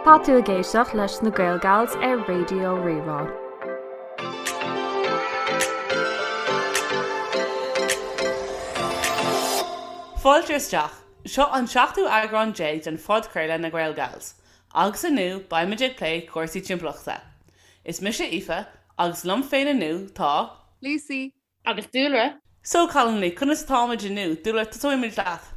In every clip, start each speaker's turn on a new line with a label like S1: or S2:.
S1: Tá tú ag éisteacht leis na GaelGals ar Radio Rí-Rá.
S2: Fáilte isteach! Seo an seachtú eagrán déag den phodchraoladh Na GaelGals agus inniu beimid ag plé cúrsaí timpeallachta. Is mise Aoife agus liom féin inniu tá. Lucy,
S3: Agus
S4: dúlra? So cailíní,
S2: conas atáimid inniu? Dúlra, tosóimid leat.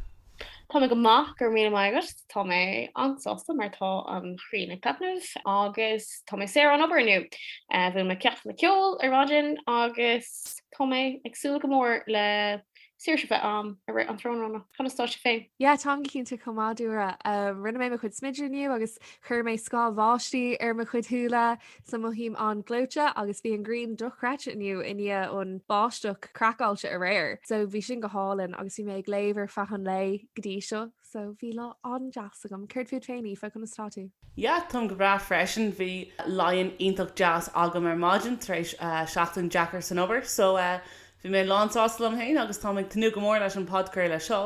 S2: Tá mé
S4: go maith, go raibh míle maith agat. Tá mé an-sásta mar tá an ghrian ag taitneamh agus tá mé saor ón obair inniu. Bhí mo cheachtanna ceoil ar maidin agus tá mé ag súil go mór le saoirse feadh an tráthnóna. Conas tá sibh féin? Yeah, táim go cinnte chomh
S3: maith, Dúlra. Rinne mé mo chuid smididh inniu agus chuir mé scáth báistí ar mo chuid shúile. So mothaím an-ghleoite agus bhí an ghrian dochreidte inniu i ndiaidh an bháisteach craiceáilte aréir so bhí sin go hálainn agus bhí mé ag léamh ar feadh an lae go dtí seo so bhí lá an-deas agam. Céard fút féin Aoife, conas tá tú? Yeah, táim go
S2: breá freisin. Bhí lie-in iontach deas agam ar maidin tar éis seachtain deacair san obair so bhí mé lán sásta liom féin agus táim ag tnúth go mór leis an podchraoladh seo.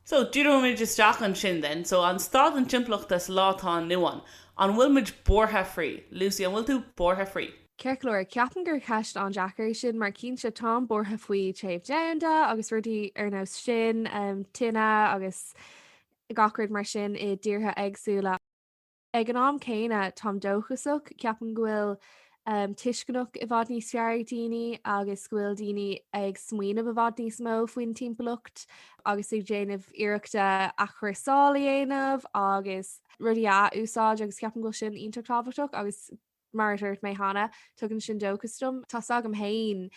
S2: So, díreoimid isteach ansin then. So, an staid an timpeallachta sa lá atá inniu ann, an bhfuil muid buartha faoi? Lucy, an bhfuil tú buartha faoi? Cinnte go leor, Ceapaim
S3: gur ceist an-deacair í sin mar cinnte táim buartha faoi téamh domhanda agus rudaí ar nós sin, tine agus gach rud mar sin i dtíortha éagsúla. Ag an am céanna, táim dóchasach, ceapaim go bhfuil tuiscint i bhfad níos fearr ag daoine agus go bhfuil daoine ag smaoineamh i bhfad níos mó faoin timpeallacht agus ag déanamh iarrachta athchúrsáil a dhéanamh agus rudaí a athúsáid agus ceapaim go bhfuil sin iontach tábhachtach agus Mar a dúirt mé cheana, tugann sin dóchas dom. Tá 's agam féin,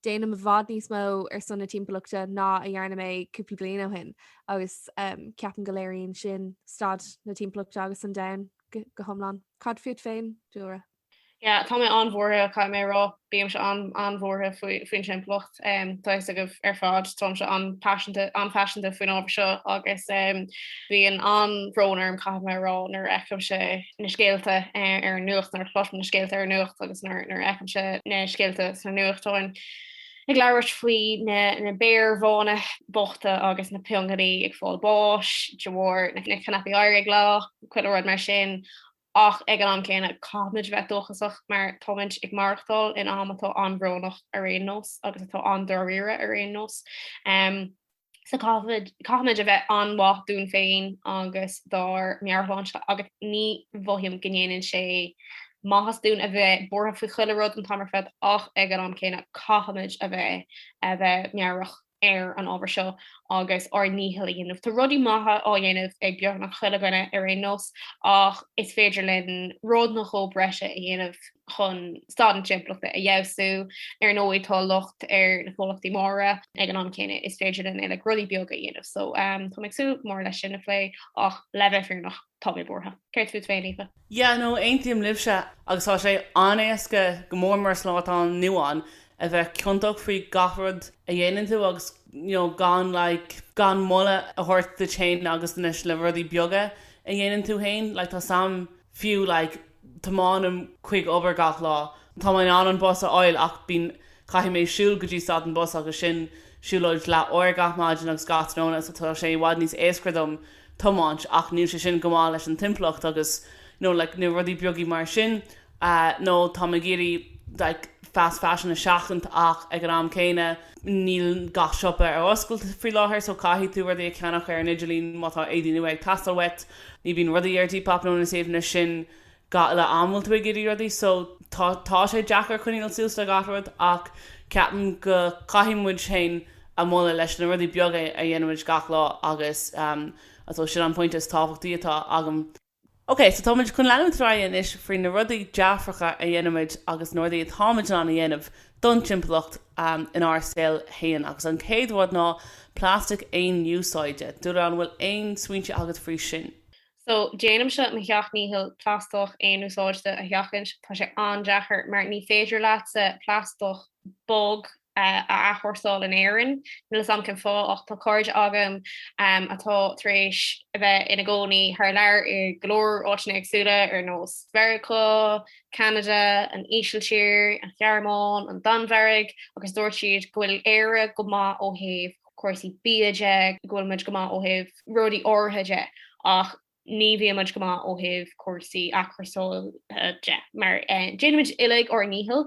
S3: déanaim i bhfad níos mó ar son na timpeallachta ná a dhearna mé cúpla bliain ó shin agus ceapaim go léiríonn sin staid na timpeallachta agus an domhain go hiomlán. Cad fút féin, Dúlra? Yeah, tá mé
S4: an-bhuartha, caithfidh mé a rá. Bímse an-an-bhuartha faoin timpeallacht. Tá fhios agaibh ar fad, táimse an-paiseanta, an-phaiseanta faoin ábhar seo agus bíonn an-bhrón orm caithfidh mé a rá nuair a fheicimse na scéalta ar an nuacht, nuair a chloisim na scéalta ar an nuacht agus nuair a fheicimse na scéalta sna nuachtáin ag labhairt faoi na béir bhána bochta agus na piongainí ag fáil báis de bharr na gcaipíní oighir ag leá, chuile rud mar sin. Ach ag an am céanna, caithfimid a bheith dóchasach mar táimid ag maireachtáil in am atá an-bhrónach ar aon nós agus atá an-dáiríre ar aon nós. So caithfimid a bheith an-mhaith dúinn féin agus dár meabhairshláinte agus ní mhothaím go ndéanann sé maitheas dúinn a bheith buartha faoi chuile rud an t-am ar fad ach ag an am céanna caithfimid a bheith, a bheith meabhrach. ar an ábhar seo agus ár ndícheall a dhéanamh. Tá rudaí maithe á dhéanamh ag beagnach chuile dhuine ar aon nós ach is féidir linn rud nó dhó breise a dhéanamh chun staid na timpeallachta a fheabhsú. Ar ndóigh tá locht ar na comhlachtaí móra ag an am céanna is féidir linn uilig rudaí beaga a dhéanamh so tá mé ag súil go mór leis sin a phlé ach le bheith fírinneach, Tá mé buartha. Céard fút féin, Aoife? Yeah, no,
S2: aontaím libhse agus tá sé an-éasca, go mór mór san lá atá inniu ann, a bheith ciontach faoi gach rud a dhéanann tú agus you know gan like gan moladh a thabhairt duit féin agus anois le rudaí beaga a dhéanann tú féin like tá's a'm fiú like Tiomáinim chuig obair gach lá. Tá mé in ann an bus a fháil ach bíonn, caithfidh mé siúl go dtí stad an bus agus sin siúlóid leathuair gach maidin agus gach tráthnóna so tá sé i bhfad níos éascra dom tiomáint ach níl sé sin go maith leis an timpeallacht agus nó like nó rudaí beaga mar sin nó táim ag iarraidh like fast fashion a sheachaint ach ag an am céanna níl gach siopa ar oscailt faoi láthair so caithfidh tú rudaí a cheannach ar an idirlíon má tá éadaí nua ag teastáil uait. ní bhíonn rudaí ar Depop nó na suíomhanna sin gach uile am a bhfuil tú ag iarraidh rudaí so tá tá sé deacair coinneáil suas le gach rud ach ceapaim go caithfidh muid féin a mholadh leis na rudaí beaga a dhéanann muid gach lá agus ehm I suppose sin an pointe is tábhachtaí atá agam. Ok so tá muid chun leanúint ar aghaidh anois faoi na rudaí dearfacha a dhéanann muid agus na rudaí atá muid in ann a dhéanamh don timpeallacht inár saol féin. Agus an chéad rud ná plastic aon úsáide. Dubhghlas an bhfuil aon smaointe agat faoi sin? So, déanaimse
S4: mo sheacht ndícheall plaisteach aon úsáide a sheachaint. Tá sé an-deacair mar ní féidir leatsa plaisteach bog a athchúrsáil in Éirinn. Níl a fhios a'm cén fáth ach tá cairde agam atá tar éis a bheith ina gcónaí thar lear i ngo leor áiteanna éagsúla ar nós Mheiriceá, Ceanada, an Ísiltír, an Ghearmáin, an Danmhairg agus dúirt siad go bhfuil Éire go maith ó thaobh cúrsaí bia de, go bhfuil muid go maith ó thaobh rudaí áirithe de ach ní bhíonn muid go maith ó thaobh cúrsaí athchúrsála de mar déanann muid uilig ár ndícheall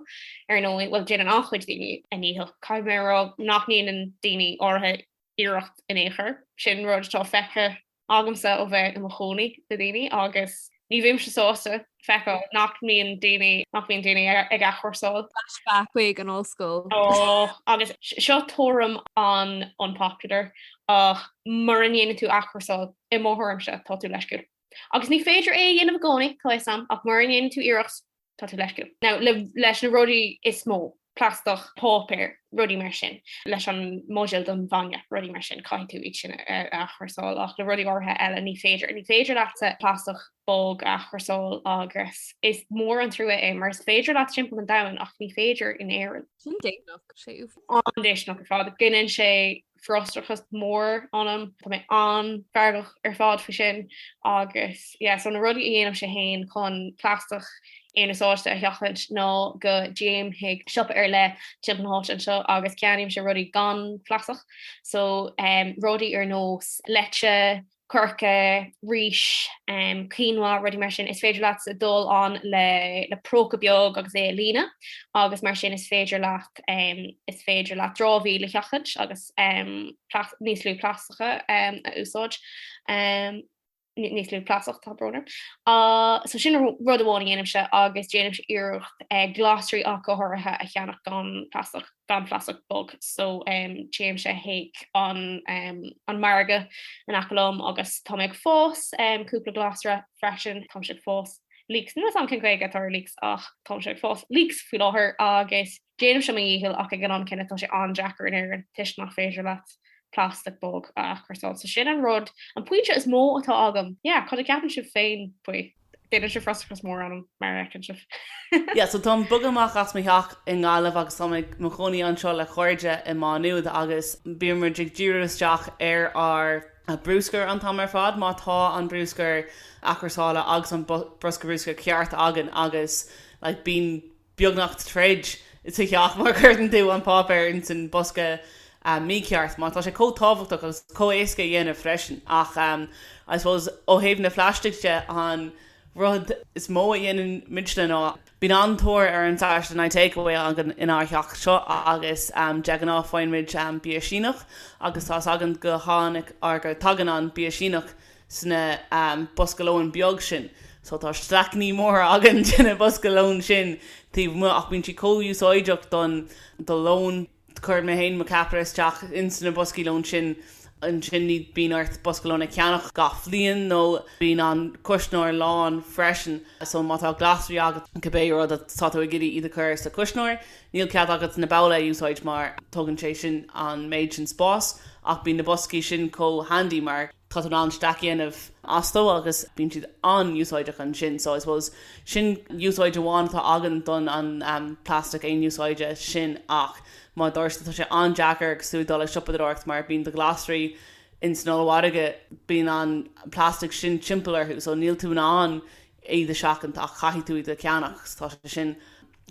S4: ar ndóigh, bhuel déanann an-chuid daoine a ndícheall. Caithfidh mé a rá nach ndéanann daoine áirithe iarracht in ao' chor, sin rud atá feicthe agamsa ó bheith i mo chónaí le daoine agus ní bhímse sásta feiceáil nach mbíonn daoine, nach mbíonn daoine ag athchúrsáil. Flashback chuig an
S3: ollscoil. Ó, agus
S4: seo tuairim an-unpopular ach mura ndéanann tú athchúrsáil, i mo thuairimse, tá tú leisciúil. Agus ní féidir é a dhéanamh i gcónaí, tá fhios a'm, ach mura ndéanann tú iarracht Tá tú leisciúil. Now, le, leis na rudaí is mó, plaisteach, páipéar, rudaí mar sin, leis an mbuidéal don bhainne, rudaí mar sin, caithfidh tú iad sin a athchúrsáil ach le rudaí áirithe eile ní féidir. Ní féidir leatsa plaisteach bog a athchúrsáil agus is mór an trua é mar is féidir leat timpeall an domhain ach ní féidir in Éirinn. Sin déistineach, sé
S3: uafás. An-déistineach ar
S4: fad. Gineann sé frustrachas mór ionam. Tá mé an-fheargach ar fad faoi sin agus yeah so na rudaí a dhéanaimse féin chun plaisteach aonúsáide a sheachaint ná go dtéimse chuig siopa ar leith timpeall na háite anseo agus ceannaímse rudaí gan plaisteach so um rudaí ar nós leite, Coirce, rís, quinoa, rudaí mar sin, is féidir leat dul ann le próca beag agus é a líonadh agus mar sin is féidir leat is féidir leat dramhaíl a sheachaint agus níos lú plaisteacha a úsáid, níos lú plaisteach tá brón orm. So sin rud amháin a dhéanaimse agus déanaimse iarracht glasraí ach go háirithe a cheannach gan plaisteach. gan plaisteach bog so téimse chuig an margadh in aice liom agus tá mé ag fás cúpla glasra freisin táimse ag fás leeks níl a fhios agam cén Gaeilge atá ar leeks ach táimse ag fás leeks faoi láthair agus déanaimse mo dhícheall ach ag an am céanna tá sé an-deacair in Éirinn toisc nach féidir leat plastic bog a athchúrsáil so sin an rud an pointe is mó atá agam yeah cad a ceapann sibh féin faoi? B'fhéidir sé frustrachas mór ionam mar a fheiceann sibh. Yeah, so
S2: táim bogtha amach as mo theach i nGaillimh agus táim ag mo chónaí anseo le cairde i Má Nuad agus bíonn muid ag díriú isteach ar ár mbruscar an t-am ar fad má tá an bruscar athchúrsála agus an bosca bruscair ceart againn agus like bíonn beagnach troid sa theach mar cuireann tú an páipéar ins an bosca mícheart mar tá sé chomh tábhachtach agus chomh éasca a dhéanamh freisin ach I suppose ó thaobh na phlaistic de an rud is mó a dhéanann muidne ná bíonn an-tóir ar an Saturday Night Takeaway againn inár theach seo agus de ghnáth faigheann muid bia Síneach agus tá 's againn go tháinig or go tagann an bia Síneach sna bosca lóin beag sin so tá staiceannaí móra againn de na bosca lóin sin taobh amuigh ach bíonn siad chomh úsáideach don do lón cuireann mé féin mo ceapaire isteach ins na boscaí lóin sin ansin ní bíonn ort bosca lóin a cheannach gach bhliain nó bíonn an cuisneoir lán freisin so má tá glasraí agat cibé rud atá tú ag iarraidh iad a chur sa chuisneoir níl cead agat na babhla a úsáid mar tugann sé sin an méid sin spáis ach bíonn na boscaí sin chomh handy mar Tá tú in ann stack a dhéanamh astu agus bíonn siad an-úsáideach ansin so I suppose sin úsáid amháin atá againn don an plastic aon úsáide sin ach mar a dúirt tú tá sé an-deacair agus tú ag dul ag siopadóireacht mar bíonn do ghlasraí ins an ollmhargaidh bíonn an plastic sin timpeall orthu so níl tú in ann iad a seachaint ach caithfidh tú iad a cheannacht so tá sé sin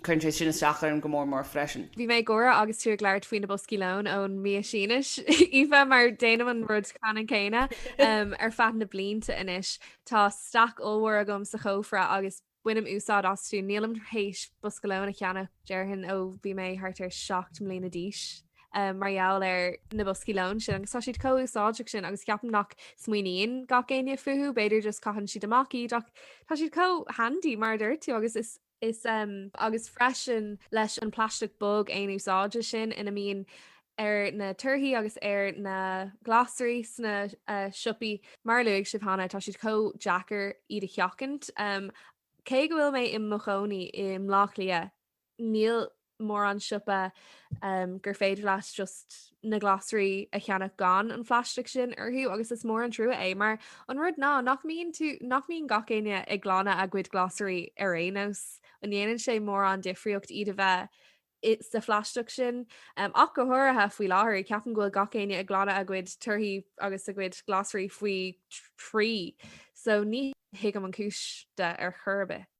S2: Cuireann sé sin isteach orm go mór mór freisin. Bhí mé ag gáire agus
S3: tú ag labhairt faoi na boscaí lóin ón mbia Síneach, Aoife, mar déanaim an rud ceannann céanna. Ar feadh na blianta anois, tá stack ollmhór agam sa chófra agus bainim úsáid astu. Nílim tar éis bosca lóin a cheannach, déarfainn, ó bhí mé thart ar seacht mbliana d'aois, mar gheall ar na boscaí lóin sin agus tá siad chomh úsáideach sin agus ceapaim nach smaoiníonn gach éinne fúthu, b'fhéidir just caitheann siad amach iad ach tá siad chomh handy mar a dúirt tú agus is Is um. agus freisin leis an plaisteach bog aonúsáide sin ina mbíonn ar na torthaí agus ar na glasraí sna siopaí. Mar a luaigh sibh cheana, tá siad chomh deacair iad a sheachaint. Cé go bhfuil mé i mo chónaí i mBleá Cliath, níl mórán siopa gur féidir leat just na glasraí a cheannach gan an phlaisteach sin orthu agus is mór an trua é mar an rud ná nach mbí nach mbíonn gach éinne ag glanadh a gcuid glasraí ar aon nós an ndéanann sé mórán difríocht iad a bheith i sa phlaisteach sin ach go háirithe faoi láthair ceapaim go bhfuil gach éinne ag glanadh a gcuid torthaí agus a gcuid glasraí faoi thrí so ní thuigim an chúis de ar chor
S4: ar bith.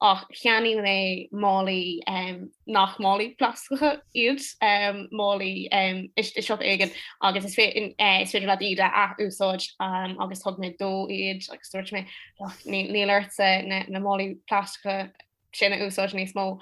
S4: ach cheannaigh mé málaí nach málaí plastacha iad, málaí i siopa éigin agus is féidir leat iad a ath-úsáid agus thug mé dó iad agus dúirt mé níl ortsa na málaí plastacha sin a úsáid níos mó.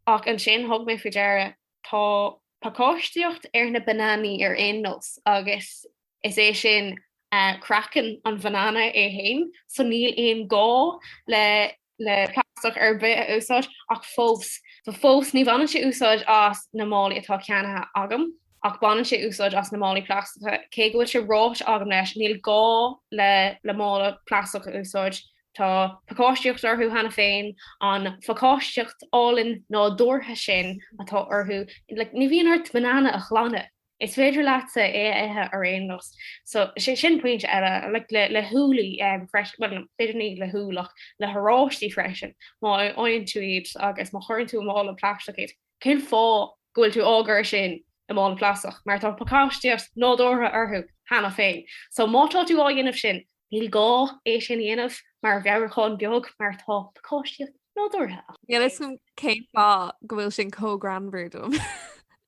S4: Ach ansin thug mé faoi deara tá pacáistíocht ar na bananaí ar aon nós agus Is é sin, craiceann an bhanana é féin, so níl aon gá le plastach ar bith a úsáid ach fós. So fós ní bhaineann sé úsáid as na málaí atá ceannaithe agam ach baineann sé úsáid as na málaí plastacha. Cé go bhfuil sé ráite agam leis, níl gá le mála plastach a úsáid, tá pacáistíocht orthu cheana féin, an phacáistíocht álainn nádúrtha sin atá orthu, like ní bhíonn ort banana a ghlanadh. Is féidir leatsa é a ithe ar aon nós. So, sé sin pointe eile, like, le húllaí freisin, bhuel, b'fhéidir ní le húll ach le horáistí freisin, má fhaigheann tú iad agus má chuireann tú i mála plastach iad, cén fáth go bhfuil tú á gcur sin i mála plastach? Mar tá pacáistíocht nádúrtha orthu cheana féin. So, má tá tú á dhéanamh sin, níl gá é sin a dhéanamh mar mheabhrúchán beag mar tá pacáistíocht nádúrtha ann. Níl a fhios agam
S3: cén fáth go bhfuil sin chomh greannmhar dom.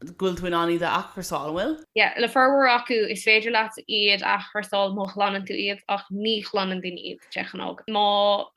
S2: go bhfuil tú in ann iad a athchursáil, an bhfuil? Yeah, le formhór acu
S4: is féidir leat iad a athchursáil má ghlanann tú iad ach ní ghlanann daoine iad de ghnáth. Má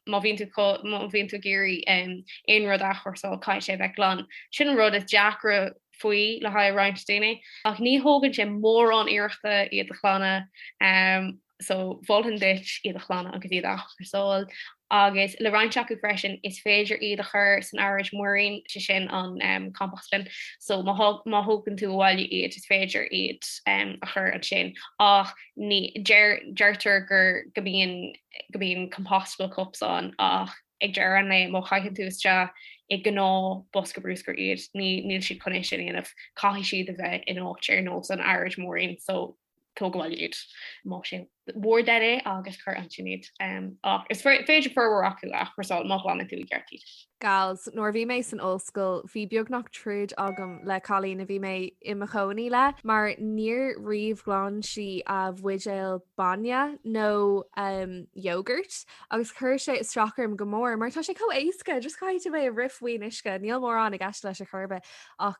S4: má bhíonn tú má bhíonn tú ag iarraidh em aon rud a athchursáil caithfidh sé a bheith glan. Sin an rud is deacra faoi le haghaidh roinnt daoine ach ní thógann sé mórán iarrachta iad a ghlanadh. Em. so mholfainn duit iad a ghlanadh agus iad a athchúrsáil agus le roinnt acu freisin is féidir iad a chur san araid mhúirín, sé sin an composting, so má thógann tú abhaile iad is féidir iad a chur ansin ach ní, deirtear gur, go mbíonn, go mbíonn compostable cups ann ach ag deireadh an lae má chaitheann tú isteach i ngnáthbhosca brúscair iad níl siad chun é sin a dhéanamh, caithfidh siad a bheith in áit ar nós an araid mhúirín so tóg abhaile iad. más é bhur dtoil é agus cuir ansin iad. Ach is féidir formhór acu a athchúrsáil má ghlanann tú i gceart iad. Gals, Nuair a bhí
S3: mé san ollscoil bhí beagnach troid agam le cailín a bhí mé i mo chónaí le mar níor riamh ghlan sí a buidéil bainne nó yogurt agus chuir sé isteach orm go mór mar tá sé chomh éasca, just caithfidh tú é a rith faoin uisce, níl mórán i gceist leis ar chor ar bith ach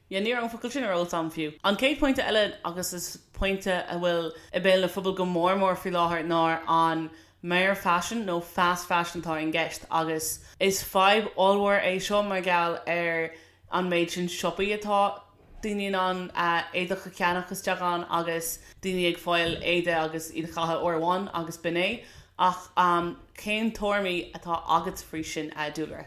S3: Yeah, ní raibh an focal
S2: sin ar eolas agam fiú. An chéad pointe eile, agus is pointe a bhfuil i béal an phobail go mór mór faoi láthair, ná an mhearfhaisean nó fast fashion atá i gceist agus is fadhb ollmhór é seo mar gheall ar an méid sin siopaí atá daoine in ann éadaí a cheannach isteach ann agus daoine ag fáil éadaí agus iad a chaitheamh uair amháin agus b'in é ach cén tuairimí atá agat faoi sin, a Dúlra?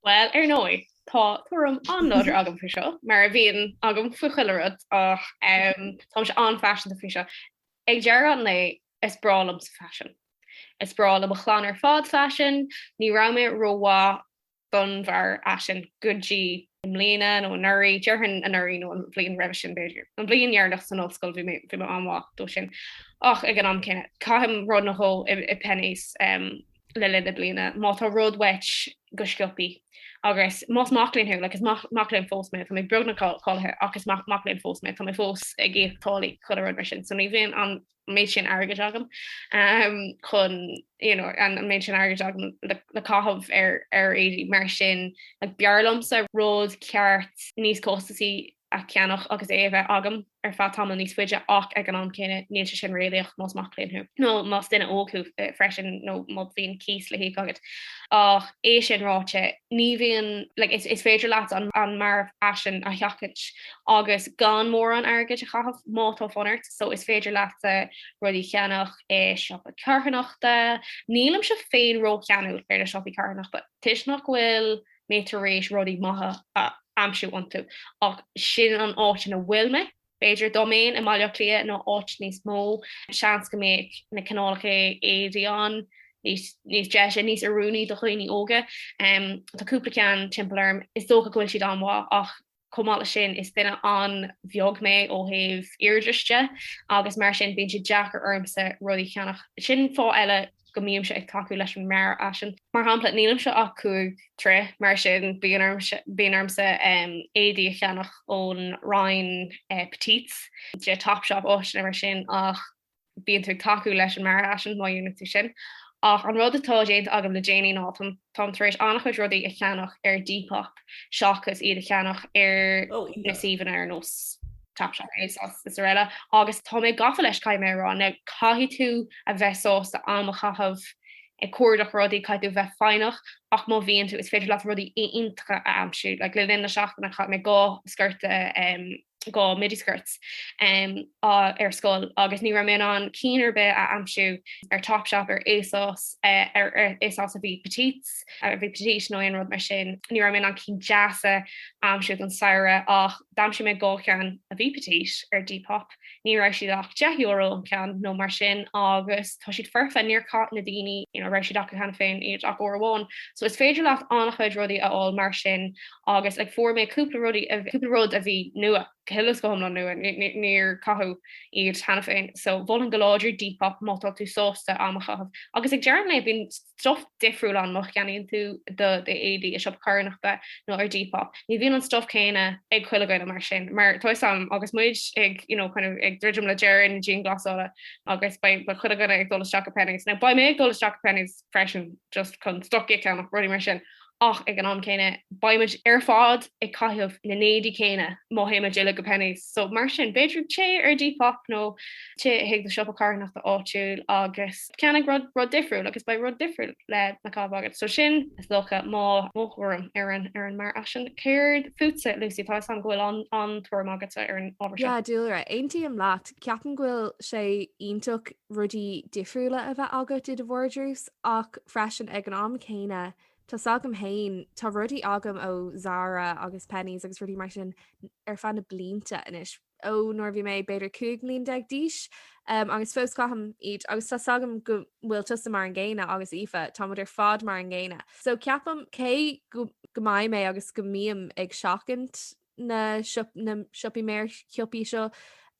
S2: Bhuel,
S4: ar ndóigh, tá tuairim an-láidir agam faoi seo, mar a bhíonn agam faoi chuile rud ach um, táimse an-phaiseanta faoi seo. Ag deireadh an lae is breá liomsa faisean. Is breá le mo chlann ar fad faisean, ní raibh mé rómhaith don mhearfhaisean go dtí i mbliana nó anuraí, déarfainn anuraí nó an bhliain roimhe sin b'fhéidir. An bhliain dheireanach san ollscoil bhí mé an-mhaith dó sin. Ach ag an am céanna, caithim rud nó dhó i Penneys, um, le linn na bliana, má tá rud uait, go sciobtha. Agus más mac léinn thú, like, is mac, mac léinn fós mé, tá mé beagnach cáilithe ach is mac, mac léinn fós mé, tá mé fós ag íoc táillí chuile rud mar sin, so ní bhíonn an méid sin airgid agam um, chun you know, an méid sin airgid agam le, le caitheamh ar ar éadaí mar sin b'fhearr liomsa rud ceart níos costasaí a cheannach agus é a bheith agam ar feadh tamaill níos faide ach ag an am céanna níl sé sin réalaíoch más mac léinn thú nó más duine óg thú freisin nó má bhíonn cíos le híoc agat. Ach é sin ráite ní bhíonn, like, is féidir leat an mhearfhaisean a sheachaint agus gan mórán airgid a chaitheamh má tá fonn ort so is féidir leat rudaí a cheannach i siopa carthanachta. Nílimse féin ró-cheanúil ar na siopaí carthanachta toisc nach bhfuil mé tar éis rudaí maithe a aimsiú iontu, ach sin an áit ina bhfuil mé. B'fhéidir dá mbeinn i mBaile Átha Cliath nó áit níos mó, seans go mbeadh na cineálacha éadaí ann níos deise, níos oiriúnaí do dhaoine óga. Tá cúpla ceann timpeall orm, is dócha go bhfuil siad an-mhaith ach Chomh maith leis sin, is duine an-bheag mé ó thaobh airde de agus mar sin bíonn sé deacair ormsa rudaí a cheannach. Sin fáth eile go mbímse ag tacú leis an mearfhaisean. Mar shampla, nílimse ach cúig troigh, mar sin bíonn ormsa éadaí a cheannach ón roinn Petites, de Topshop áiteanna mar sin ach bíonn tú ag tacú leis an mearfhaisean má dhéanann tú sin. Ach an rud atá déanta agam le déanaí ná táim tar éis an-chuid rudaí a cheannach ar Depop seachas iad a cheannach ar na suíomhanna ar nós Topshop agus araile. Agus tá mé gafa leis caithfidh mé a rá. Now caithfidh tú a bheith sásta am a chaitheamh ag cuardach rudaí, caithfidh tú a bheith foighneach ach má bhíonn tú is féidir leat rudaí iontacha a aimsiú. Like le linn na seachtaine chaith mé dhá sciorta dhá midi skirts ar scoil agus ní raibh mé in ann cinn ar bith a aimsiú ar Topshop, ar ASOS, ar ASOS a bhí petites, a bhí petite nó aon rud mar sin. Ní raibh mé in ann cinn deas a aimsiú don samhradh ach d'aimsigh mé dhá cheann a bhí petite ar Depop. Ní raibh siad ach deich euro an ceann nó mar sin agus tá siad foirfe, níor chaith na daoine a raibh siad acu cheana féin iad ach uair amháin. So is féidir leat an-chuid rudaí a fháil mar sin agus like fuair mé cúpla rud a cúpla rud a bhí nua go huile is go hiomlán nua níor caitheadh iad cheana féin so mholfainn go láidir Depop má tá tú sásta am a chaitheamh agus ag deireadh an lae bíonn stuff difriúil ann má cheannaíonn tú do éadaí i siopa carthanachta nó ar Depop ní bhíonn an stuff céanna ag chuile dhuine mar sin mar tá fhios a'm agus muid ag you know kind of ag druidim le deireadh na dianghlasála agus beidh chuile dhuine ag dul isteach go Penneys now beidh mé ag dul isteach go Penneys freisin just chun stocaí a cheannach, rudaí mar sin, ach ag an am céanna beidh muid ar fad ag caitheamh na n-éadaí céanna má théann muid uile go Penneys, so mar sin b'fhéidir téigh ar Depop nó téigh chuig do shiopa carthanachta áitiúil agus ceannaigh rud difriúil agus beidh rud difriúil lena chaitheamh agat, so sin is dócha mo mo thuairim ar an ar an mearfhaisean. Céard fútsa Lucy, tá fhios agam go bhfuil an an tuairim agatsa ar an ábhar seo. Yeah, Laura, aontaím
S3: leat, ceapaim go bhfuil sé iontach rudaí difriúla a bheith agat i do vardrús ach freisin ag an am céanna tá fhios agam féin, tá rudaí agam ó Zara agus Penneys agus rudaí mar sin ar feadh na blianta anois ó nuair a bhí mé b'fhéidir 15 mbliain d'aois agus fós caithim iad agus tá fhios agam go bhfuil tusa mar an gcéanna agus Aoife, táimid ar fad mar an gcéanna. So ceapaim cé go mbeidh mé agus go mbím ag seachaint na siopaí mearshiopaí seo,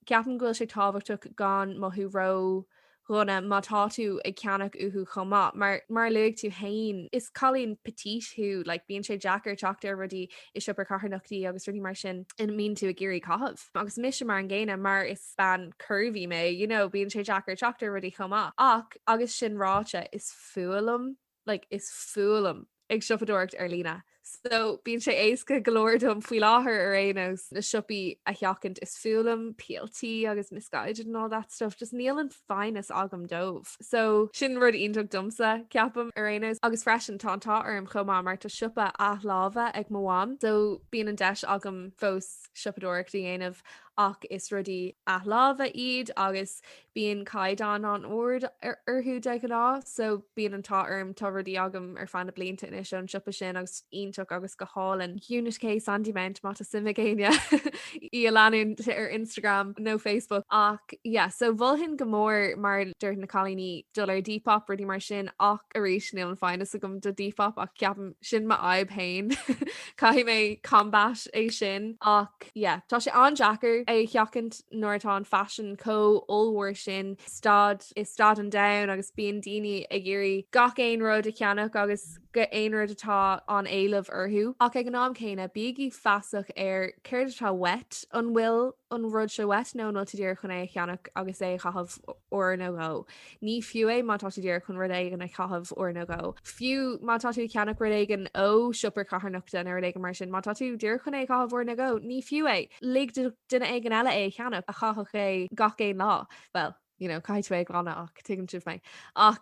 S3: ceapaim go bhfuil sé tábhachtach gan mothú ródhona má tá tú ag ceannach uathu chomh maith, mar mar a luaigh tú fhéin, is cailín petite thú, like bíonn sé deacair teacht ar rudaí i siopaí charthanachtaí agus rudaí mar sin ina mbíonn tú ag iarraidh caitheamh. Agus mise mar an gcéanna, mar is bean curvy mé, you know, bíonn sé deacair teacht ar rudaí chomh maith. Ach agus sin ráite, is fuath liom like is fuath liom ag siopadóireacht ar líne so bíonn sé éasca go leor dom faoi láthair ar aon nós na siopaí a sheachaint is fuath liom PLT agus Missguided and all that stuff just níl an foighneas agam dóibh so sin rud iontach domsa ceapaim ar aon nós agus freisin tá an t-ádh orm chomh maith mar tá siopa athláimhe ag mo mham so bíonn an deis agam fós siopadóireacht a dhéanamh ach is rudaí athláimhe iad agus Bíonn caighdeán an-ard orthu de ghnáth so bíonn an t-ádh orm, tá rudaí agam ar feadh na blianta anois ón siopa sin agus iontach agus go hálainn. Unit K Sandymount má tá suim ag éinne í a leanúint ar Instagram nó Facebook. Ach yeah so mholfainn go mór mar a dúirt na cailíní dul ar Depop rudaí mar sin ach arís níl an foighneas agam do Depop ach ceapaim sin mo fhadhb féin caithfidh mé combat é sin ach yeah tá sé an-deacair é a sheachaint. nuair atá an faisean chomh hollmhór sin stad i stad an domhain agus bíonn daoine ag iarraidh gach aon rud a cheannach agus gach aon rud atá an-éileamh orthu ach ag an am céanna bígí feasach ar céard atá uait, an bhfuil an rud seo uait nó an bhfuil tú díreach chun é a cheannach agus é a chaitheamh uair nó dhó. Ní fiú é má tá tú díreach chun rud éigin a chaitheamh uair nó dhó. Fiú má tá tú ag ceannach rud éigin ó siopa carthanachta nó rud éigin mar sin. Má tá tú díreach chun é a chaitheamh uair nó dhó, ní fiú é. Lig duine éigin eile é a cheannach, a chaithfeadh é gach aon lá. Bhuel, you know, caithfidh tú é a ghlanadh ach tuigeann sibh mé. Ach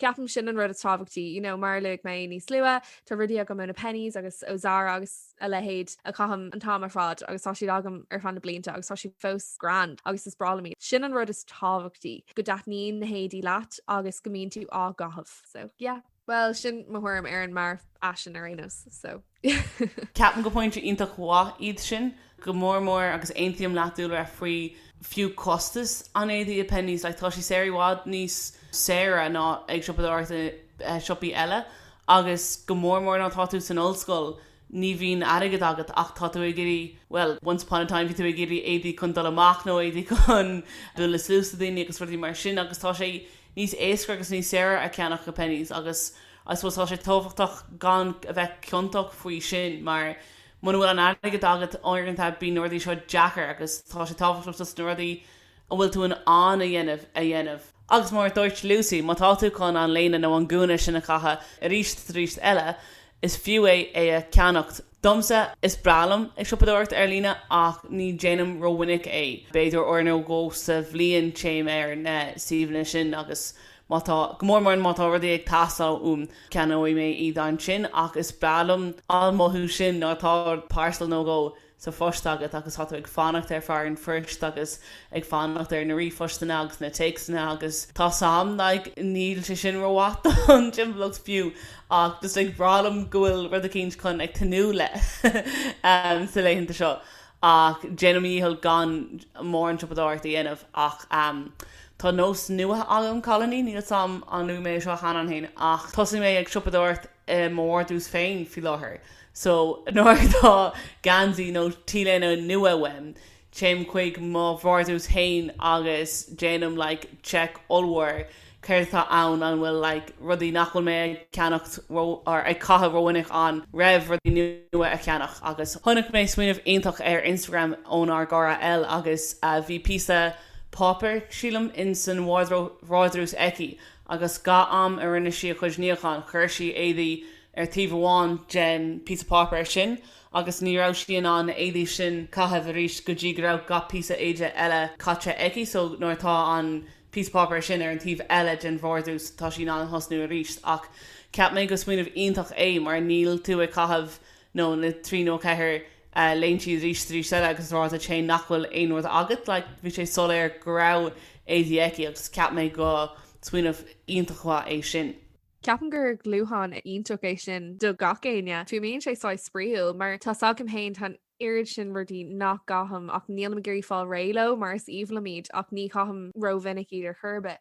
S3: ceapaim sin an rud is tábhachtaí. You know, mar a luaigh mé níos luaithe, tá rudaí agam ó na Penneys agus ó Zara agus. a leithéid a chaithim an t-am ar fad agus tá siad agam ar feadh na blianta agus tá siad fós grand agus is breá liom iad. Sin an rud is tábhachtaí, go dtaitníonn na héadaí leat agus go mbíonn tú á gcaitheamh. So, yeah. Bhuel, sin mo thuairim ar an mearfhaisean ar aon nós. So, yeah. Ceapaim
S2: gur pointí iontach mhaith iad sin, go mór mór agus aontaím leat dúil a bheith faoi fiú costas an éadaí i Penneys, like, tá siad saor i bhfad níos saoire ná ag siopadóireacht i siopaí eile Agus go mór mór nuair atá tú san ollscoil, ní bhíonn airgead agat ach tá tú ag iarraidh, bhuel, once upon a time bhí tú ag iarraidh éadaí chun dul amach nó éadaí chun dul le sluaiste daoine agus rudaí mar sin agus tá sé níos éasca agus níos saoire a cheannach i Penneys agus I suppose tá sé tábhachtach gan a bheith ciontach faoi sin mar muna bhfuil an airgead agat uaireanta bíonn na rudaí seo deacair agus tá sé tábhachtach just na rudaí An bhfuil tú in ann a dhéanamh, a dhéanamh? Agus mar a dúirt Lucy, má tá tú chun an léine nó an gúna sin a chaitheamh aríst is aríst eile, is fiú é é a cheannacht. Domsa, is breá liom ag siopadóireacht ar líne ach ní dhéanaim rómhinic é. B'fhéidir uair nó dhó sa bhliain téim ar na suíomhanna sin agus má tá, go mór mór má tá rudaí ag teastáil uaim, ceannóidh mé iad ansin ach is breá liom an mothú sin nuair atá 'parcel' nó dhó sa phost agat agus tá tú ag fanacht ar fear an phoist agus ag fanacht ar na ríomhphostanna agus na téacsanna agus tá's am, like, níl sé sin rómhaith don timpeallacht fiú ach just is breá liom go bhfuil rud eicínt chun ag tnúth le sa laethanta seo ach déanaim mo dhícheall gan mórán siopadóireacht a dhéanamh ach tá nós nua agam cailíní níl 's am ar luaigh mé seo cheana fhéin ach thosaigh mé ag siopadóireacht i mo vardrús féin faoi láthair so nuair atá geansaí nó t-léine nua uaim téim chuig mo vardrús fhéin agus déanaim like check ollmhór céard atá ann an bhfuil like rudaí nach bhfuil mé ag ceannacht ró or ag caitheamh rómhinic roimh rudaí nua a cheannach agus chonaic mé smaoineamh iontach ar Instagram ón ár gcara Elle agus bhí píosa páipéar sílim insan vardrús aici agus gach am a rinne sí a cuid níocháin chuir sí éadaí ar taobh amháin den píosa páipéir sin agus ní raibh sí in ann na héadaí sin caitheamh aríst go dtí go raibh gach píosa éide eile caithte aici so nuair atá an píosa páipéir sin ar an taobh eile den vardrús tá sí in ann thosnú aríst ach ceap mé go smaoineamh iontach é mar níl tú ag caitheamh nó na trí nó ceithre léinte arís is arís eile agus rá leat féin nach bhfuil aon rud agat, like, bhí sé soiléir go raibh éadaí aici agus cheap mé go smaoineamh iontach mhaith é sin. Ceapaim gur
S3: dúshlán iontach é sin do gach éinne, fiú bíonn sé saghas spraíúil mar tá s'agam féin, tá an oiread sin rudaí nach gcaithim ach nílim ag iarraidh fáil réidh leo mar is aoibhinn liom iad ach ní chaithim ró-mhinic iad ar chor ar bith.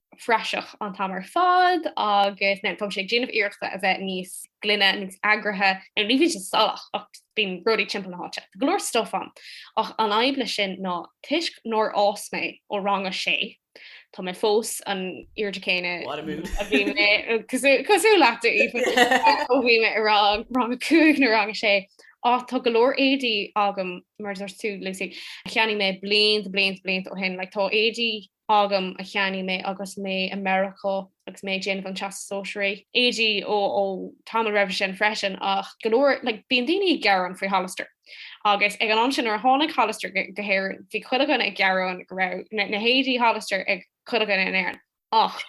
S4: phraiseach an t-am ar fad agus tá mé ag déanamh iarrachta a bheith níos gloine, níos eagraithe, nó ní bhíonn sé salach ach bíonn rudaí timpeall na háite. Tá go leor stuif ann ach an fhadhb leis sin ná toisc nár fhás mé ó rang a sé, tá mé fós an aoirde céanna a bhí mé, cosúil leat a Aoife, ó bhí mé i rang rang a cúig nó rang a sé. Ach tá go leor éadaí agam, mar a dúirt tú Lucy, cheannaigh mé blianta blianta blianta ó shin, like tá éadaí agam a cheannaigh mé agus mé i Meiriceá agus mé ag déanamh an teastas sóisearach. Éadaí, Ó, ó, tamall roimhe sin freisin ach go leor, like, bíonn daoine ag gearán faoi Hollister. Agus ag an am sin nuair a tháinig Hollister go hÉirinn bhí chuile dhuine ag gearán go raibh na, na héadaí Hollister ag chuile dhuine in Éirinn. Ach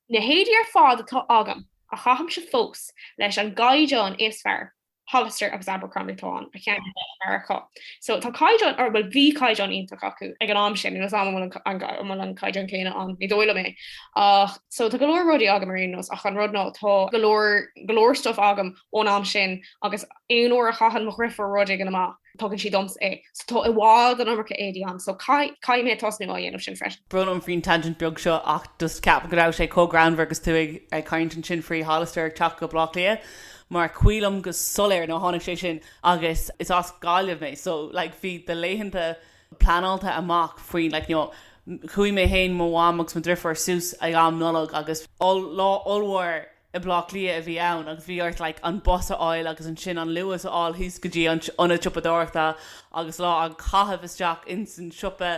S4: na héadaí ar fad atá agam a chaithimse fós leis an gcaighdeán is fearr Hollister agus Abercrombie atá ann a cheannaigh mé i Meiriceá. So tá caighdeán an bhfuil bhí caighdeán iontach acu ag an am sin agus an bhfuil an caighdeán céanna ann ní dóigh liom é. Ach so tá go leor rudaí agam ar aon nós ach an rud ná tá go leor go leor stuff agam ón am sin agus aon uair a chaitheann mo dheirfiúr rud éigin amach, Tugann sí domsa é. So tá i bhfad an iomarca éadaí ann. So caithfidh mé tosnú á dhéanamh sin freisin. Brón orm faoin tangent
S2: beag seo ach just ceapaim go raibh sé chomh greannmhar agus tú ag caint ansin faoi Hollister ag teacht go Bleá Cliath mar cuimhním go soiléir nuair a tháinig sé sin agus is as Gaillimh mé so like bhí do laethanta pleanáilte amach faoin like you know chuaigh mé fhéin mo mham agus mo dheirfiúr suas ag am Nollag agus lá ollmhór I mBlá Cliath a bhí ann agus bhí ort like an bus a fháil agus ansin an Luas a fháil thíos go dtí an ionad siopadóireachta agus lá a chaitheamh isteach ins an siopa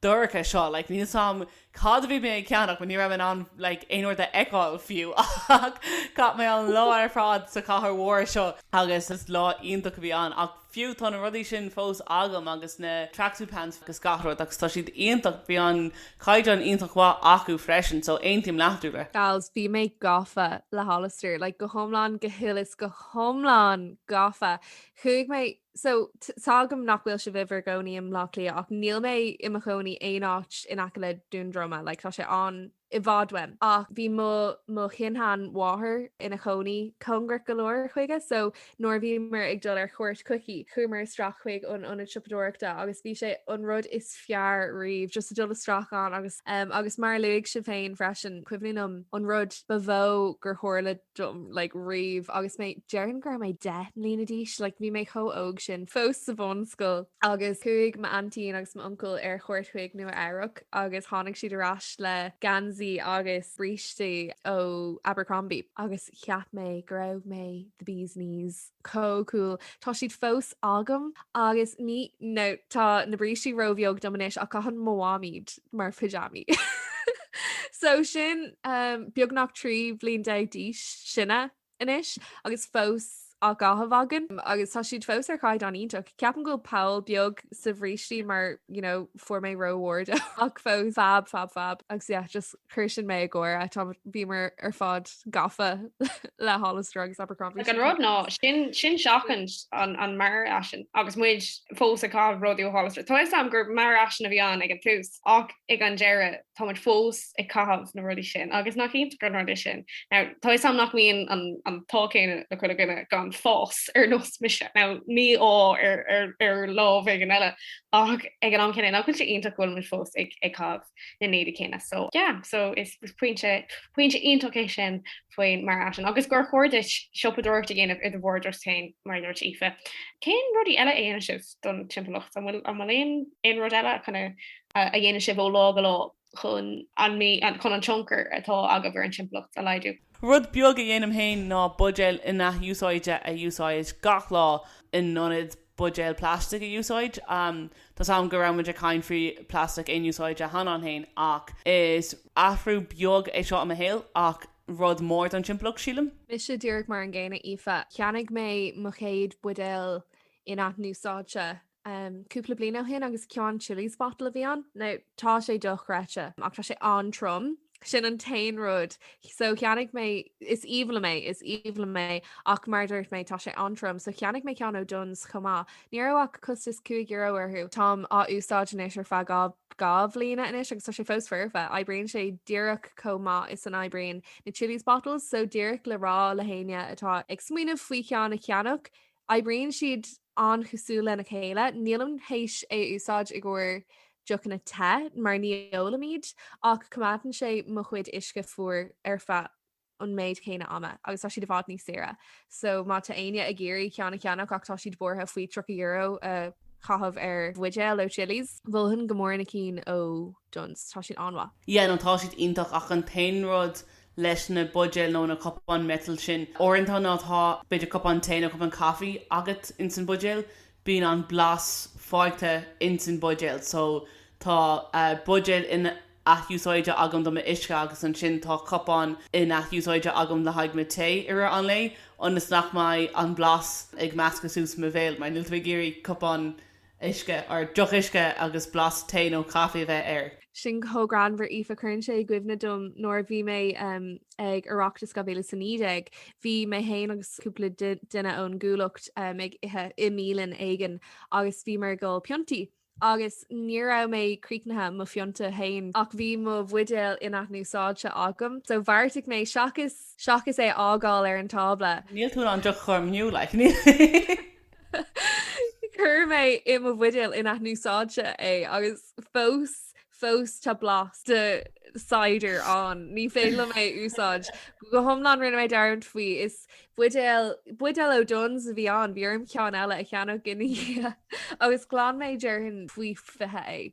S2: dorcha seo like níl 's a'm cad a bhí mé ag ceannach but ní raibh mé in ann like aon rud a fheiceáil fiú ach chaith mé an lá ar fad sa chathair mhór seo agus is lá iontach a bhí ann ach Fiú tá na rudaí sin fós agam agus na tracksuit pants agus gach rud agus tá siad iontach, bhí an caighdeán iontach mhaith acu freisin so aontaím leat tú le. Gals, bhí mé
S3: gafa le Hollister, like go hiomlán, go huile is go hiomlán gafa. Chuaigh mé, so tá fhios agam nach bhfuil sibh in bhur gcónaí i mBlá Cliath ach níl mé i mo chónaí aon áit in aice le Dún Droma, like tá sé an i bhfad uaim ach bhí mo mo shin-seanmháthair ina cónaí cóngarach go leor chuige so nuair a bhíomar ag dul ar chuairt chuici chuamar isteach chuig an ionad siopadóireachta agus bhí sé an rud is fearr riamh just ag dul isteach ann agus agus mar a luaigh sibh féin freisin cuimhním an rud ba mhó gur tharla dom like riamh agus mé déarfainn go raibh mé 10 mbliana d'aois like bhí mé chomh óg sin fós sa bhunscoil agus chuaigh m'aintín agus m'uncail ar chuairt chuig Nua Eabhrac agus tháinig siad ar ais le geansaí agus brístí ó Abercrombie agus cheap mé go raibh mé the bees knees. chomh cool. Tá siad fós agam. Agus ní, no, tá na brístí ró-bheag dom anois ach caitheann mo mham iad mar pyjamaí. So sin, beagnach trí bhliain déag níos sine anois agus fós á gcaitheamh againn. Agus tá siad fós ar chaighdeán iontach. Ceapaim go bhfuil poll beag sa bhrístí mar, you know, fuair mé ró-ard ach fós fab, fab, fab. Agus yeah, just Chuir sin mé ag gáire tá bhíomar ar fad gafa le Hollister agus Abercrombie. Ach an rud ná
S4: sin sin seachaint an an mearfhaisean agus muid fós ag caitheamh rudaí ó Hollister. Tá fhios a'm gur mearfhaisean a bhí ann ag an tús ach ag an deireadh tá muid fós ag caitheamh na rudaí sin agus nach iontach an rud é sin. Now tá fhios a'm nach mbíonn an an t-ádh céanna le chuile dhuine gan fás ar nós mise. Now ní ádh ar ar ar lámh éigin eile ach ag an am céanna nach bhfuil sé iontach go bhfuil muid fós ag ag caitheamh. na n-éadaí céanna so yeah so is is pointe pointe iontach é sin faoin marthain agus gur chóir duit siopadóireacht a dhéanamh i do vardrús féin mar dúirt Aoife. Cén rudaí eile a dhéanann sibh don timpeallacht an bhfuil an bhfuil aon aon rud eile chun a dhéanann sibh ó lá go lá chun an mí chun an tionchar atá agaibh ar an timpeallacht a laghdú? Rud beag a dhéanaim
S2: féin ná buidéil in-athúsáidte a úsáid gach lá in ionad buidéil plastic a úsáid. Tá a fhios agam go raibh muid ag caint faoi plastic aonúsáide cheana féin ach is athrú beag é seo i mo shaol ach rud mór don timpeallacht sílim. Mise díreach mar
S3: an gcéanna Aoife, cheannaigh mé mo chéad buidéal in-athúsáidte um cúpla bliain ó shin agus ceann Chilly's bottle a bhí ann. Now tá sé dochreidte ach tá sé an-trom. Sin an t-aon rud. So cheannaigh mé is aoibhinn liom é, is aoibhinn liom é ach mar a dúirt mé tá sé an-trom, so cheannaigh mé ceann ó Dunnes chomh maith. Ní raibh ach costas cúig euro orthu. Táim á úsáid anois ar feadh dhá dhá bhliana anois agus tá sé fós foirfe. Oibríonn sé díreach chomh maith is a n-oibríonn na Chilly's Bottles, so díreach le rá le héinne atá ag smaoineamh faoi cheann a cheannach, Oibríonn siad an-chosúil lena chéile. Nílim tar éis é a úsáid i gcomhair deochanna te mar ní ólaim iad, ach coimeádann sé mo chuid uisce fuar ar feadh an méid céanna ama agus tá siad i bhfad níos saoire. So má tá éinne ag iarraidh ceann a cheannach ach tá siad buartha faoi €30 a chaitheamh ar bhuidéal ó Chilly's, mholfainn go mór na cinn ó Dunnes, tá siad an-mhaith. Yeah, no tá siad
S2: iontach ach an t-aon rud leis na buidéil nó na cupáin metal sin. Uaireanta má tá b'fhéidir cupán tae nó cupán caife agat ins an bhuidéal, bíonn an blas fágtha ins an bhuidéal so tá buidéal in-athúsáidte agam do mo uisce agus ansin tá cupán in-athúsáidte agam le haghaidh mo tae i rith an lae ionas nach mbeidh an blas ag meascadh suas i mo bhéal mar níl tú ag iarraidh cupán uisce, or deoch uisce agus blas tae nó caife a bheith air.
S3: Sin chomh greannmhar Aoife cuireann sé i gcuimhne dom nuair a bhí mé ag Oireachtas 2019, bhí mé féin agus cúpla duine ón gCuallacht ag ithe i mbialann éigin agus bhíomar ag ól piontaí agus ní raibh mé críochnaithe le mo phionta féin ach bhí mo bhuidéal in-athúsáidte agam so bheartaigh mé seachas seachas é a fhágáil ar an tábla, Níl tú in ann deoch a chur
S2: amú like.
S3: Chuir mé i mo bhuidéal in-athúsáidte é agus fós fós tá blas de cider ann. Ní féidir liom é a úsáid. Go hiomlán rinne mé dearmad faoi is buidéal ó Dunnes a bhí ann, bhí orm ceann eile a cheannach ina dhiaidh agus glan mé déarfainn faoi fiche é.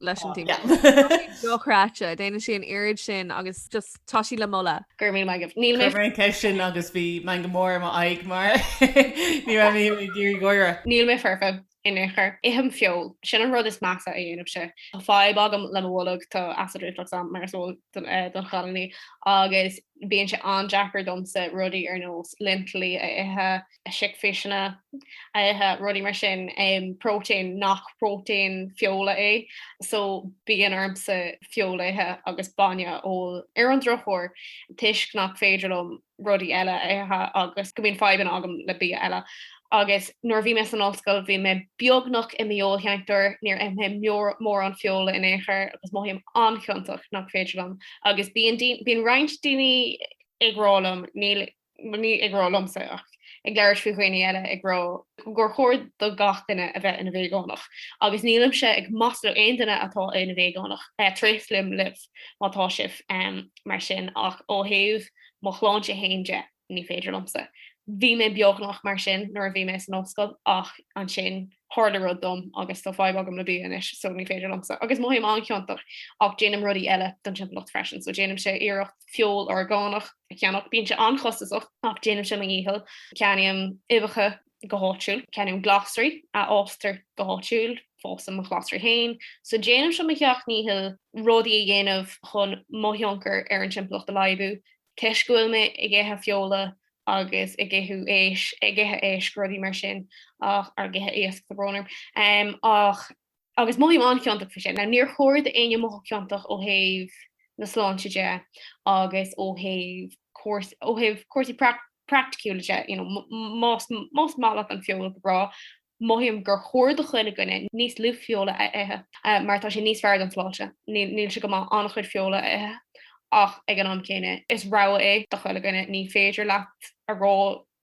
S3: leis an tíma. Dochreidte, déanann sí an oiread sin agus just tá sí le moladh. Gur mí maigimh. Níl
S4: mé. Cuir mé an ceist sin agus bhí
S2: mé go mór i m'aghaidh mar ní raibh mé ag iarraidh gáire. Níl mé foirfe,
S4: in aon chor. Ithim feoil. Sin an rud is measa a dhéanfaimse. Tá fadhb agam le mo bholg, tá acid reflux ann mar is eol don chailíní, agus bíonn sé an-deacair domsa rudaí ar nós lintillí a ithe, sicphéiseanna, rudaí mar sin, próitéin nach próitéin feola é, so bíonn ormsa feoil a ithe agus bainne a ól. Ar an drochuair, toisc nach féidir liom rudaí eile a ithe agus go mbíonn fadhbanna agam le bia eile. Agus nuair a bhí mé san ollscoil, bhí mé beagnach i m'fheoilséantóir, níor ith mé mórán feola in aon chor agus mothaím an-chiontach nach féidir liom. Agus bíonn daoine, bíonn roinnt daoine ag rá liom, níl ní ag rá liomsa ach ag labhairt faoi dhaoine eile ag rá gur chóir do gach duine a bheith ina veigeánach agus nílimse ag maslú aon duine atá ina veigeánach. Tréaslaím libh má tá sibh mar sin ach ó thaobh mo shláinte féin de ní féidir liomsa. Bhí mé beagnach mar sin nuair a bhí mé san ollscoil ach ansin tharla rud dom agus tá fadhb agam le bia anois so ní féidir liomsa. Agus mothaím an-chiontach ach déanaim rudaí eile don timpeallacht freisin so déanaimse iarracht feoil orgánach a cheannach. Bíonn sé an-chostasach ach déanaimse mo dhícheall. Ceannaím uibheacha go háitiúil, ceannaím glasraí a fhástar go háitiúil, fásaim mo ghlasraí féin. So déanaimse mo sheacht ndícheall rudaí a dhéanamh chun mo thionchar ar an timpeallacht a laghdú. Toisc go bhfuil mé ag ithe feola agus ag ithe éisc, ag ithe éisc, rudaí mar sin, ach, ag ithe iasc, sa bhrónar, ach Agus mothaím an-chiontach faoi sin. Now níor chóir d'éinne mothú ciontach ó thaobh na sláinte de agus ó thaobh cúrs ó thaobh cúrsaí prac praiticiúla de, you know, m- más más maith leat an feoil go breá, mothaím gur chóir do chuile dhuine níos lú feola a ithe eh mar tá sé níos fearr don tsláinte. Níl níl sé go maith an-chuid feola a ithe ach ag an am céanna is rogha é do chuile dhuine. Ní féidir leat a rá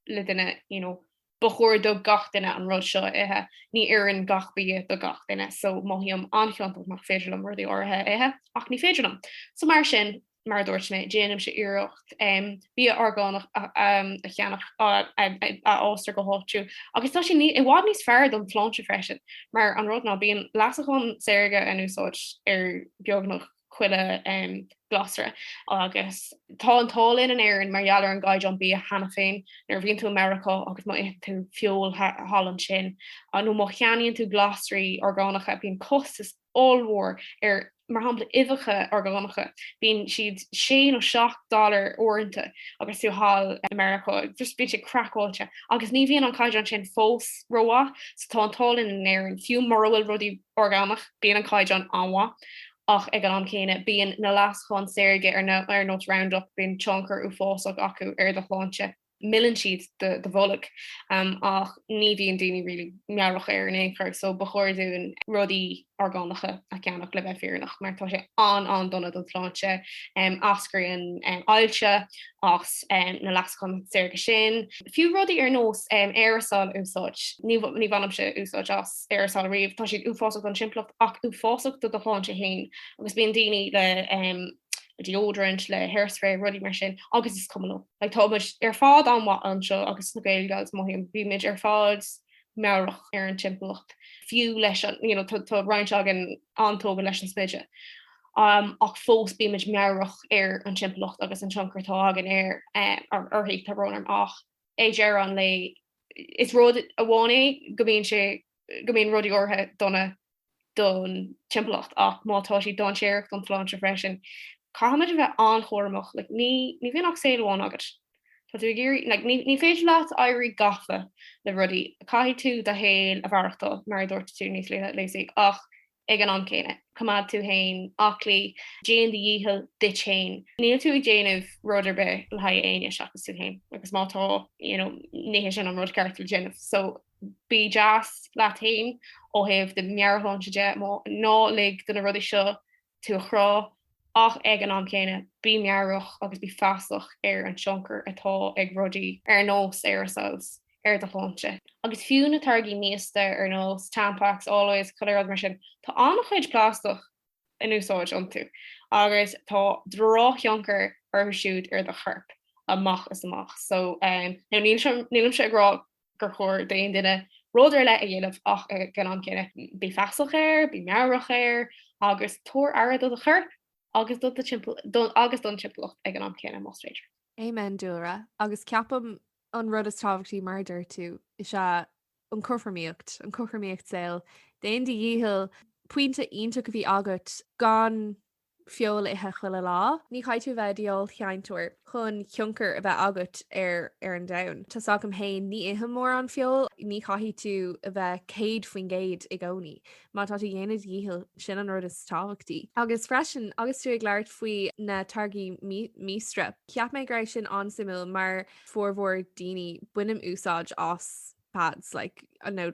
S4: le duine, you know, ba chóir do gach duine an rud seo a ithe. Ní oireann gach bia do gach duine, so mothaím an-chiontach nach féidir liom rudaí áirithe a ithe, ach ní féidir liom. So mar sin, mar a dúirt mé, déanaimse iarracht em, bia orgánach a em, a cheannach a, a, a, a fhástar go háitiúil. Agus tá sé ní- i bhfad níos fearr don tsláinte freisin, mar an rud ná bíonn leasachán saorga in úsáid ar beagnach chuile glasra agus tá an t-ádh linn in Éirinn mar gheall ar an gcaighdeán bia cheana féin. Nuair a bhíonn tú i Meiriceá agus má itheann tú feoil thall ansin nó má cheannaíonn tú glasraí orgánacha bíonn costas ollmhór ar mar shampla uibheacha orgánacha, bíonn siad sé nó seacht dollar uaireanta agus tú thall i Meiriceá, just bíonn sé craiceáilte. Agus ní bhíonn an caighdeán sin fós rómhaith so tá an t-ádh linn in Éirinn fiú mura bhfuil rudaí orgánach, bíonn an caighdeán an-mhaith, ach ag an am céanna, bíonn na leasacháin saorga ar nós Roundup, bíonn tionchar uafásach acu ar do shláinte. Milleann siad do bholg, ach ní bhíonn daoine really meabhrach air ar aon chor, so ba chóir dúinn rudaí orgánacha a cheannach le bheith fírinneach, mar tá sé an-an-dona don tsláinte. Eascraíonn ailse as na leasacháin saorga sin. Fiú rudaí ar nós aerosol a úsáid, ní bhainimse úsáid as. aerosol riamh, tá siad uafásach don timpeallacht ach uafásach do do shláinte fhéin agus bíonn daoine le um deodorant, le hair spray, rudaí mar sin agus is cuma leo. Like tá muid ar fad an-mhaith anseo agus na Gael Gals mothaím bíonn muid ar fad meabhrach ar an timpeallacht fiú leis an you know tá tá roinnt againn an-tógha leis an smideadh um ach fós bíonn muid meabhrach ar an timpeallacht agus an tionchar atá againn ar um orthu tá romhainn ach ag deireadh an lae Is rud amháin é go mbíonn sé, go mbíonn rudaí áirithe dona don timpeallacht ach má tá siad dainséarach don tsláinte freisin caithfimid a bheith an-chúramach, like ní, ní bhíonn ach saol amháin agat. Tá tú ag iarraidh, like ní, ní féidir leat éirí gafa le rudaí. Caithfidh tú do shaol a mhaireachtáil, mar a dúirt tú níos luaithe, Lucy, ach Ag an am céanna, coimeád tú féin aclaí, déan do dhícheall duit féin. Níl tú ag déanamh rud ar bith le haghaidh éinne seachas tú féin because má tá, you know, ní hé sin an rud ceart le déanamh. So bí deas leat féin ó thaobh do mheabhairshláinte de, ná lig do na rudaí seo tú a chrá. ach ag an am céanna bí meabhrach agus bí feasach ar an tionchar atá ag rudaí ar nós aerosols ar do shláinte. Agus fiú na táirgí míosta ar nós Tampax, Always, chuile rud mar sin, tá an-chuid plastach in úsáid iontu agus tá drochthionchar orthu siúd ar do chorp amach is amach. So, nílimse ag rá gur chóir d'aon duine rud ar leith a dhéanamh ach ag an am céanna. Bí feasach air, bí meabhrach air agus tabhair aire do do chorp agus do do thimpeall agus don timpeallacht ag an am céanna más féidir. Amen
S3: dúlra, agus ceapaim an rud is tábhachtaí mar a deir tú is ea an cothromaíocht, an cothromaíocht saoil. Déan do dhícheall, pointe iontach a bhí agat gan feoil a ithe chuile lá. Ní chaithfidh tú a bheith i d'fheoilséantóir chun tionchar a bheith agat ar ar an domhan. Tá's agam fhéin ní ithim mórán feoil, ní chaithfidh tú a bheith 100% i gcónaí. Má tá tú ag déanamh do dhícheall, sin an rud is tábhachtaí. Agus freisin, agus tú ag labhairt faoi na táirgí míosta, cheap mé go raibh sin an-suimiúil mar formhór daoine, bainim úsáid as pads like, I know,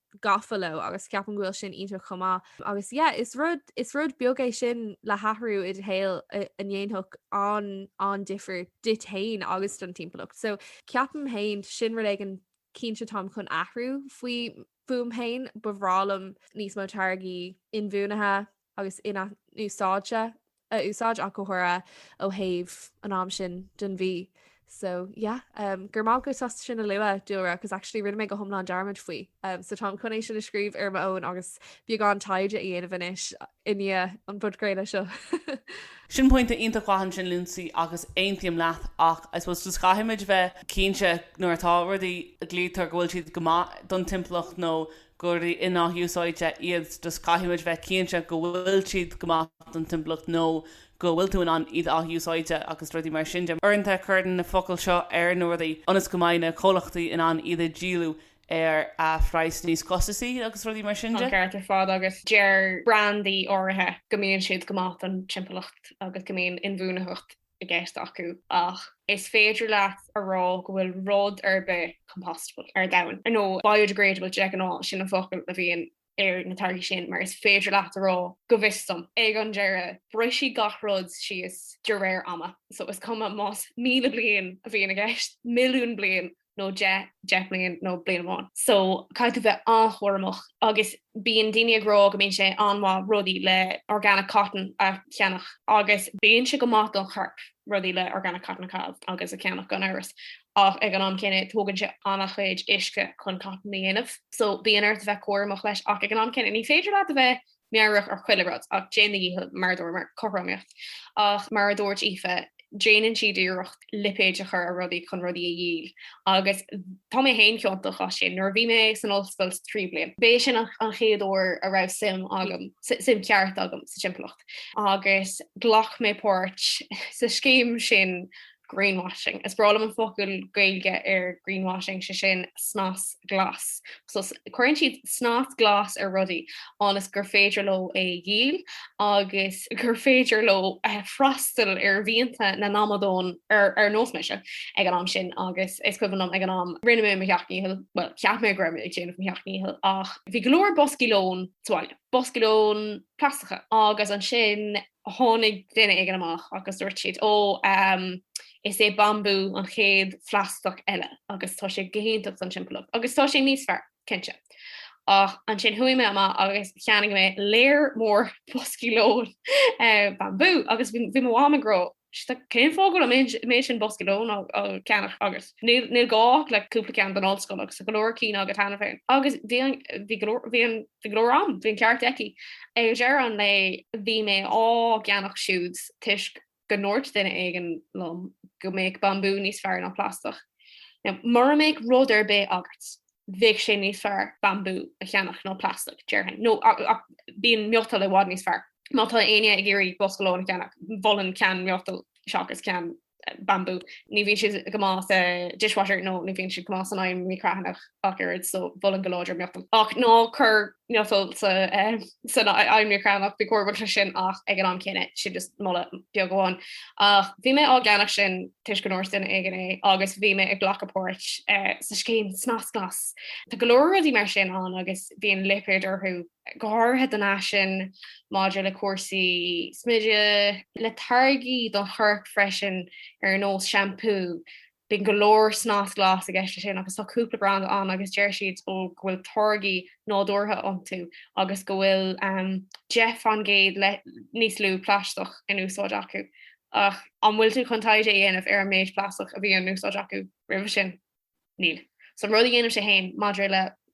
S3: gafa leo agus ceapaim go bhfuil sin iontach chomh maith agus yeah is rud is rud beag é sin le hathrú i do shaol a ndéanfadh an an-difear duit féin agus don timpeallacht so ceapaim féin sin rud éigin cinnte táim chun athrú faoi fúm féin ba bhreá liom níos mó táirgí inbhuanaithe agus in-athúsáidte a úsáid ach go háirithe ó thaobh an am sin den mhí so yeah um go raibh maith agat as ucht sin a lua dúradh cos actually rinne mé go hiomlán dearmad faoi um so táim chun é sin a scríobh ar m'fhón agus beagán taighde a dhéanamh anois i ndiaidh an podchraoladh seo.
S2: Sin pointe iontach mhaith ansin Lindsay agus aontaím leat ach I suppose just caithfimid bheith cinnte nuair atá rudaí a ghlaoitear go bhfuil siad go maith don timpeallacht nó gur rudaí in-athúsáidte iad just caithfimid bheith cinnte go bhfuil siad go maith don timpeallacht nó go bhfuil tú in ann iad a athúsáid agus rudaí mar sin de. Uaireanta cuireann na focail seo ar na rudaí ionas go mbeidh na comhlachtaí in ann iad a dhíolú ar phraghas níos costasaí agus rudaí mar sin de. Ceart ar fad agus
S4: deir brandaí áirithe go mbíonn siad go maith don timpeallacht agus go mbíonn inbhuanaitheacht i gceist acu ach is féidir leat a rá go bhfuil rud ar bith compostable ar domhan, nó biodegradable de ghnáth, sin an focal a bhíonn ar na táirgí sin mar is féidir leat a rá go bhfios dom. Ag an deireadh, brisfidh gach rud síos de réir ama, so is cuma más míle bliain a bhíonn i gceist, milliún bliain, nó deich, deich mbliain nó bliain amháin. So caithfidh tú bheith an-chúramach agus bíonn daoine ag rá go mbíonn sé an-mhaith rudaí le organic cotton a cheannach agus bíonn sé go maith don chorp rudaí le organic cotton a chaitheamh agus a cheannach gan amhras ach ag an am céanna tógann sé an-chuid uisce chun cotton a dhéanamh so bíonn ort a bheith cúramach leis ach ag an am céanna ní féidir leat a bheith meabhrach ar chuile rud ach déan do dhícheall mar a dúirt mé, cothromaíocht. Ach mar a dúirt Aoife, déanann siad iarracht lipéid a chur ar rudaí chun rudaí a dhíol agus tá mé féin ciontach as sin. Nuair a bhí mé san ollscoil sa tríú bliain, b'é sin an chéad uair a raibh suim agam, suim cheart agam sa timpeallacht agus ghlac mé páirt sa scéim sin greenwashing. Is breá liom an focal Gaeilge ar greenwashing, sé sin snas glas. So cuireann siad snas glas ar rudaí ionas gur féidir leo é a dhíol agus gur féidir leo eh, freastal ar mhianta na n-amadán ar, ar nós mise ag an am sin agus is cuimhin liom ag an am rinne mé mo sheacht ndícheall, well cheap mé go raibh mé ag déanamh mo sheacht ndícheall ach bhí go leor boscaí lóin sa bhaile, boscaí lóin plaisteacha agus ansin Tháinig duine éigin amach agus dúirt siad, Ó, is é Bambú an chéad phlaisteach eile agus tá sé go hiontach don timpeallacht agus tá sé níos fearr, cinnte. Ach ansin chuaigh mé amach agus cheannaigh mé lear mór boscaí lóin Bambú agus bhí mo mham ag rá Cén fáth go bhfuil an méid sin bosca lóin á cheannach agat níl gá ach le cúpla ceann don ollscoil agus tá go leor cinn agat cheana féin. Agus bhí go leor agam, bhí an ceart aici. Ag deireadh an lae bhí mé á gceannach siúd toisc go ndúirt duine éigin liom go mbeadh bambú níos fearr ná plaisteach. Mura mbeadh rud ar bith agat bheadh sé níos fearr bambú a cheannach ná plaisteach, déarfainn, nó bíonn miotal i bhfad níos fearr. Má tá éinne ag iarraidh bosca lóin a cheannach, mholfainn ceann miotail seachas ceann bambú. Ní bhíonn siad go maith sa dishwasher nó ní bhíonn siad go maith san oigheann micreathonnach ach oiread so mholfainn go láidir miotal. Ach ná cuir miotal sa san oigheann micreathonnach bí cúramach leis sin ach ag an am céanna sin just moladh beag amháin. Ach bhí mé á gceannach sin toisc go ndúirt duine éigin é agus bhí mé ag glacadh páirt sa scéim Snas Glas. Tá go leor rudaí mar sin ann agus bíonn lipéard orthu go háirithe don fhaisean maidir le cúrsaí smididh, le táirgí don chorp freisin ar nós seampú, Bíonn go leor snas glas i gceist leis sin agus tá cúpla branda ann agus deir siad ó go bhfuil táirgí nádúrtha iontu agus go bhfuil 10% níos lú plaisteach in úsáid acu. Ach an bhfuil tú chun taighde a dhéanamh ar an méid plaisteach a bhí in úsáid acu roimhe sin? Níl. So an rud a dhéanaimse féin maidir le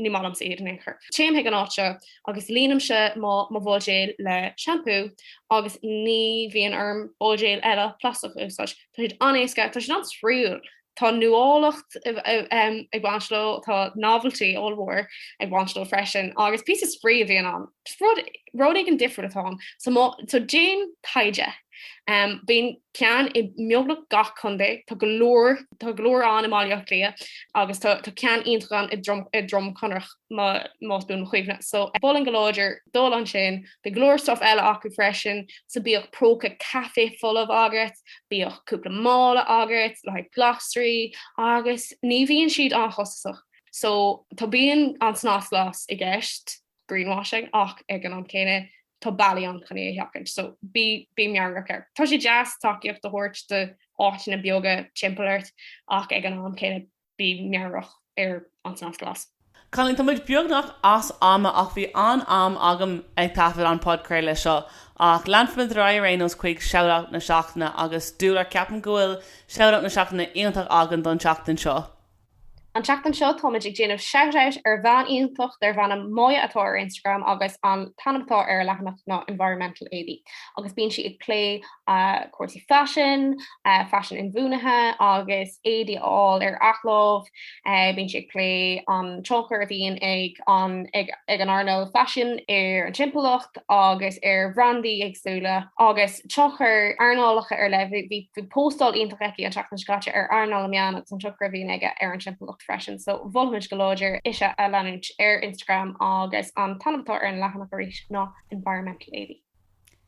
S4: Ní maith liomsa iad in aon chor. Téim chuig an áit seo agus líonaimse mo bhuidéal le seampú agus ní bhíonn orm buidéal eile plaisteach a úsáid. Tá siad an-éasca, tá siad an-spraíúil, tá nuálacht ag baint leo, tá novelty ollmhór ag baint leo freisin agus píosa spraoi a bhíonn ann. Rud éigin difriúil atá ann. So déan taighde. Bíonn ceann i mbeagnach gach contae, tá go leor tá go leor ann i mBaile Átha Cliath agus tá tá ceann iontach ann i nDroim i nDroim Conrach má más buan mo chuimhne. So mholfainn go láidir dul ansin. Bhí go leor stuff eile acu freisin, so bíodh próca caife folamh agat, bíodh cúpla mála agat, le haghaidh glasraí agus ní bhíonn siad an-chostasach. So tá bíonn an snas glas i gceist, greenwashing, ach ag an am céanna tá bealaí ann chun é a sheachaint, so bí meabhrach air. Tá sé deas tacaíocht a thabhairt do áiteanna beaga timpeall ort ach ag an am céanna bí meabhrach ar an snas glas. Cailín, Tá muid
S2: beagnach as ama ach bhí an-am agam ag taifead an podchraoladh seo. Ach leanfaimid ar aghaidh ar aon nós chuig Shout-Out na Seachtaine agus Dualair, ceapaim go bhfuil Shout-Out na Seachtaine iontach againn don tseachtain seo. An
S4: tseachtain seo táimid ag déanamh shout out ar bhean iontach darb ainm Maya atá ar Instagram agus an t-ainm atá ar a leathanach ná Environmental Éadaí agus bíonn sí ag plé cúrsaí faisin, faisin inbhuanaithe agus éadaí a fháil ar athláimh, bíonn sí ag plé an tionchar a bhíonn ag an earnáil faisin ar an timpeallacht agus ar bhrandaí éagsúla agus. tionchar earnálacha ar leith. Bhí póstáil iontach aici an tseachtain seo caite ar earnáil na meán agus an tionchar a bhíonn aige ar an timpeallacht freisin. So mholfaimid go láidir ise a leanúint ar Instagram agus an t-ainm atá ar an leathanach arís ná Environmental Éadaí.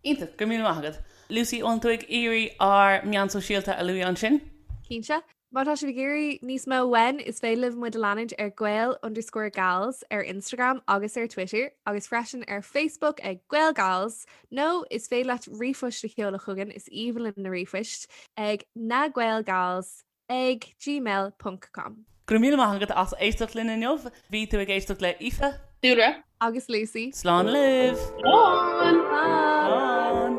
S4: Iontach! Go
S2: raibh míle maith agat. Lucy, an tú ag iarraidh ár meáin sóisialta a lua ansin? Cinnte.
S3: Má tá sibh ag iarraidh níos mó uainn, is féidir libh muid a leanúint ar gael underscore gals ar Instagram agus ar Twitter agus freisin ar Facebook ag Gael Gals, nó is féidir leat ríomhphost a sheoladh chugainn, is aoibhinn linn na ríomhphoist, ag na gael gals ag gmail ponc com. Go raibh míle maith
S2: agat as éisteacht linn inniu. Bhí tú ag éisteacht le Aoife. Dúlra. Agus
S3: Lucy. Slán
S2: libh! Slán! Slán!